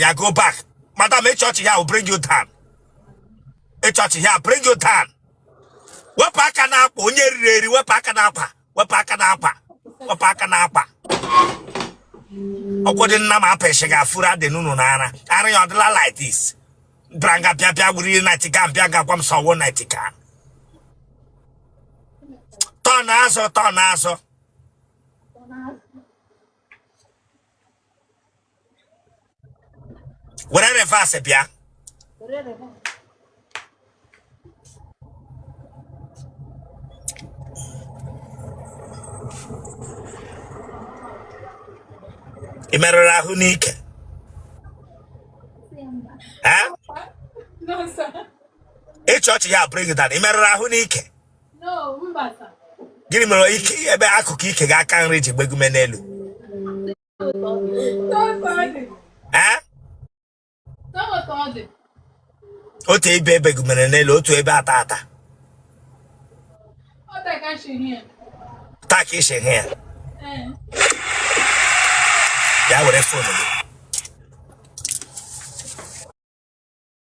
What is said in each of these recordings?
ya go back madam ị chị ọchị here will bring you down ị chị ọchị here bring you down wepụ aka n'akpa onye eriri eri wepụ aka n'akpa wepụ aka n'akpa wepụ aka n'akpa ọkwụ dị nna m apịsị ga-afuru adị n'unu n'ara ara ya ọdịla like this bịara nga bịa bịa wuru ihe nati ga bịa ga gwa m sọwo nati ka tọn azụ tọn azụ were reverse bịa ị merụrụ ahụ n'ike ị chị ọchị here bring down ị merụrụ ahụ n'ike gịnị mere ike ebe akụkụ ike gị aka nri ji begume n'elu otu ebe begumere n'elu otu ebe ata ata tak isi hụ ya ya were fon gị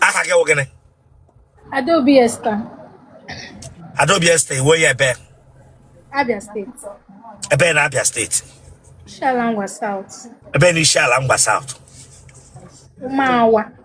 aha gị wụ gịnị Adaobi Esther, Adaobi Esther ị wụ onye ebee Abia State, ebee na Abia State Isiala Ngwa South, ebee na Isiala Ngwa South Umawa.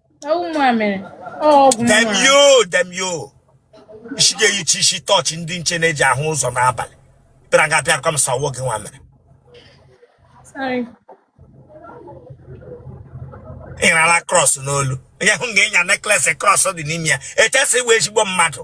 damn you damn you isi gị eyichi isi tọọchị ndị nche na-eji ahụ ụzọ n'abalị bịara nga bịa kwa m sawo gị nwa mere ị nyara krọs n'olu onye hụ na ị nya nekles krọs dị n'ime ya e chee sị ị wụ ezigbo mmadụ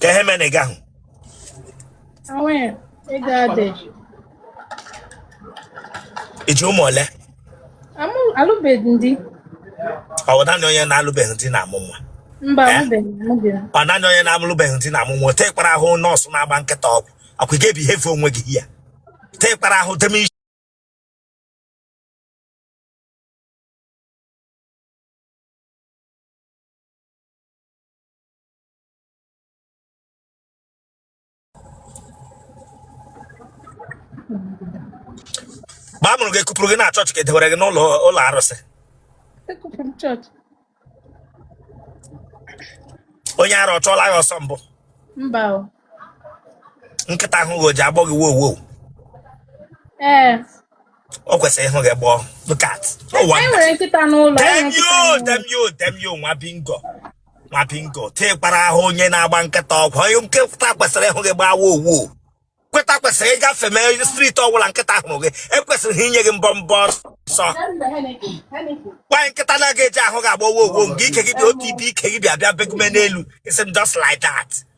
ka ihe mere na ị gaghị ị ji ụmụ ole alụbeghị m di ọ bụ naanị onye na-alụbeghị di na-amụ nwa mba eh? ọ naanị onye na-alụbeghị di na-amụ nwa ote kpara ahụ nọọsụ na-agba nkịta ọgwụ akwa ga-ebi ihe fe onwe gị ya te kpara ahụ deme isi mgbe a mụrụ gị e kupụrụ gị na chọọchị ka e dewere gị n'ụlọ arụsị onye ara ọ chụọla gị ọsọ mbụ mba nkịta hụ gị o ji agbọ gị wow wow ee o kwesịrị ịhụ gị gbọọ look at no anyị wonder nwere nkịta n'ụlọ anyị nwere nkịta demio n'ụlọ. demio demio nwa bingo nwa bingo tekwara ahụ onye na-agba nkịta ọgwụ onye nkịta kwesịrị ịhụ gị gbaa wow wow nkịta kwesịrị ịgafe mee street ọbụla nkịta hụrụ gị ekwesịrị ha inye gị mbọmbọ ọsọ why nkịta na-aga eji ahụ gị agbọ wow wow nke ike gị dị otu ibe ike gị bịa bịa begume n'elu it's just like that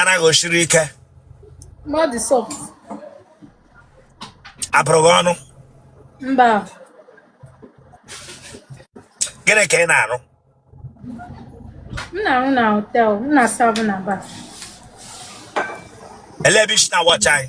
anụ gị o siri ike body soft a bụrụ gị ọnụ mba gịnị ka ị na-arụ m na-arụ na hotel m na-aserve na bar ele ebe i si na-watch anyị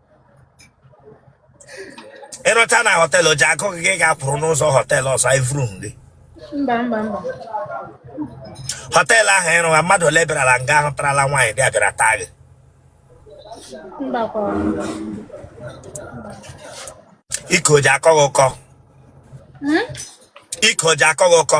ị rụcha na hotel o ji akụ gị gị ga-akwụrụ n'ụzọ hotel ọzọ evuru gị mba mba mba hotel ahụ ị rụwa mmadụ ole bịarala nga ahụ tarala nwaanyị dị abịara taa gị mba kwa ike o ji akọ gị ụkọ Hmm? ike o ji akọ gị ụkọ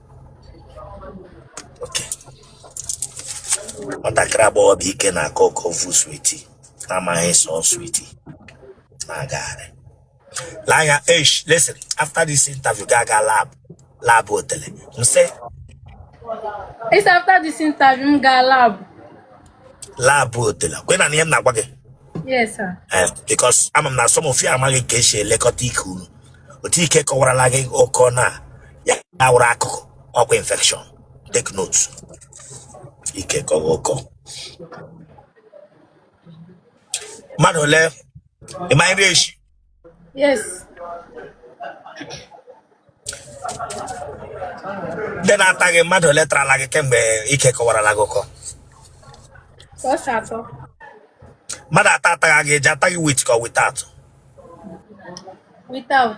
nwatakịrị agbọghọ bu ike na-akọ ụkọ o vu sweetie na-amaghị sị ọ sweetie na-agagharị lee anya eish listen after this interview ga aga lab lab otele m sị It's after this interview, m gaa lab. lab otele kwa ị na-anụ ihe m na-agwa gị Yes, sir. Eh, because ama m na some of you amaghị ka esi elekọta ike unu otu ike kọwarala gị ụkọ na ya awụrụ akụkọ ọkwa infection take note ike kọwa ụkọ mmadụ ole ịma nri echi ndị na-ata gị mmadụ ole tarala gị kemgbe ike kọwarala gị ụkọ mmadụ ata ataghị gị e ji ata gị with ka without without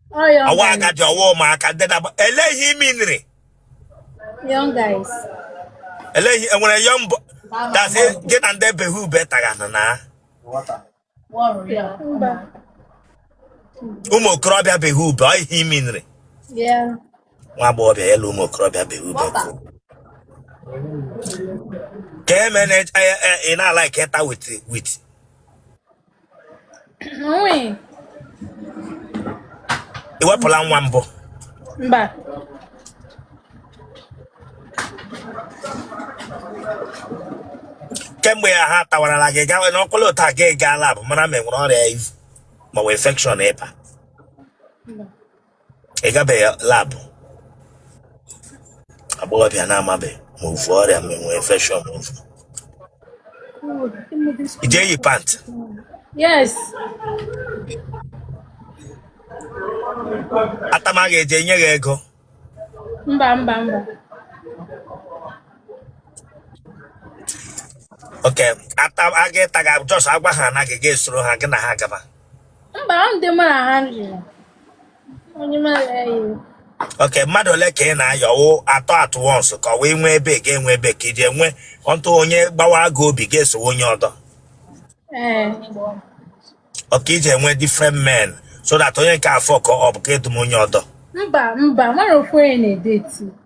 Ọyọ ọwa guys. agadi ọwa ụmụaka ndị na-agba ele ihe imi nri Young guys. ele ihe enwere young boy dasị gị na ndị beghị ube tagana na Mba. ụmụ okorobịa beghị ube ọ ihe imi nri Yeah. nwa agbọghọbịa ya na ụmụ okorobịa beghị ube kụ ka emene ị na-ala ka ịta with with i wepụla nwa mbụ mba kemgbe ya ha tawarala gị gawa n'ọkụlụ ụta gị gaa lab mara ma e nwere ọrịa i vu maọbụ infection ịba ị gabeghị lab agbọghọbịa na-amabeghị ma o vu ọrịa ma enwe infection ma o vu i jee yi pant Yes. atama ga-eje nye gị ego Mba mba mba. okay ata aga ịta gị just agwa ha na gị ga-esoro ha gị na ha gaba mba ọ dị mụ na ha nri onye m ala ya iwu okay mmadụ ole ka ị na-ayọ wụ atọ at once ka ọ wee nwee ebe ga-enwe ebe ka iji enwe ọntụ onye gbawaa gị obi ga-esowe onye ọdọ ee okay iji enwe different men so that onye nke a fuck up ka edum onye ọdọ mba mba mara ofu onye na-edeti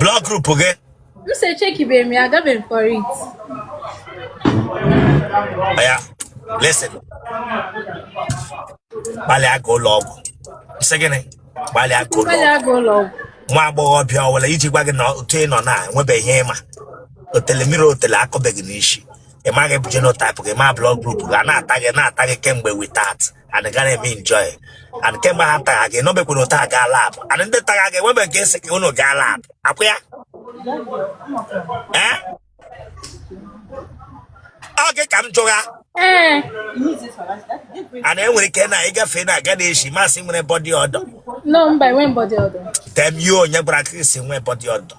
blood group gị m si echekibeghị m ya agabeghị m for it oya listen gbalịa ga ụlọ ọgwụ sị gịnị gbalịa ga ụlọ mmadụ ọgwụ aga ụlọ ọgwụ nwa agbọghọbịa ọwụla iji gwa gị na otu ị nọ na enwebeghị ihe ị ma otele mmiri otele akọbeghị n'isi ị maghị bụ genotype gị ma blood group gị a na-ata gị na-ata gị kemgbe without and ị ga na-eme enjoy and kemgbe ha tara gị nọbekwuru taa gaa lab and ndị tara gị enwebe nke sị ka unu gaa lab akwụ ya ee ọ gị ka m jụgha Ee. and enwere ike na ịgafe na-aga na-eshi masị nwere body odor No, mba, enwe m body odor. tem ya onye gwara ka esi nwee body odor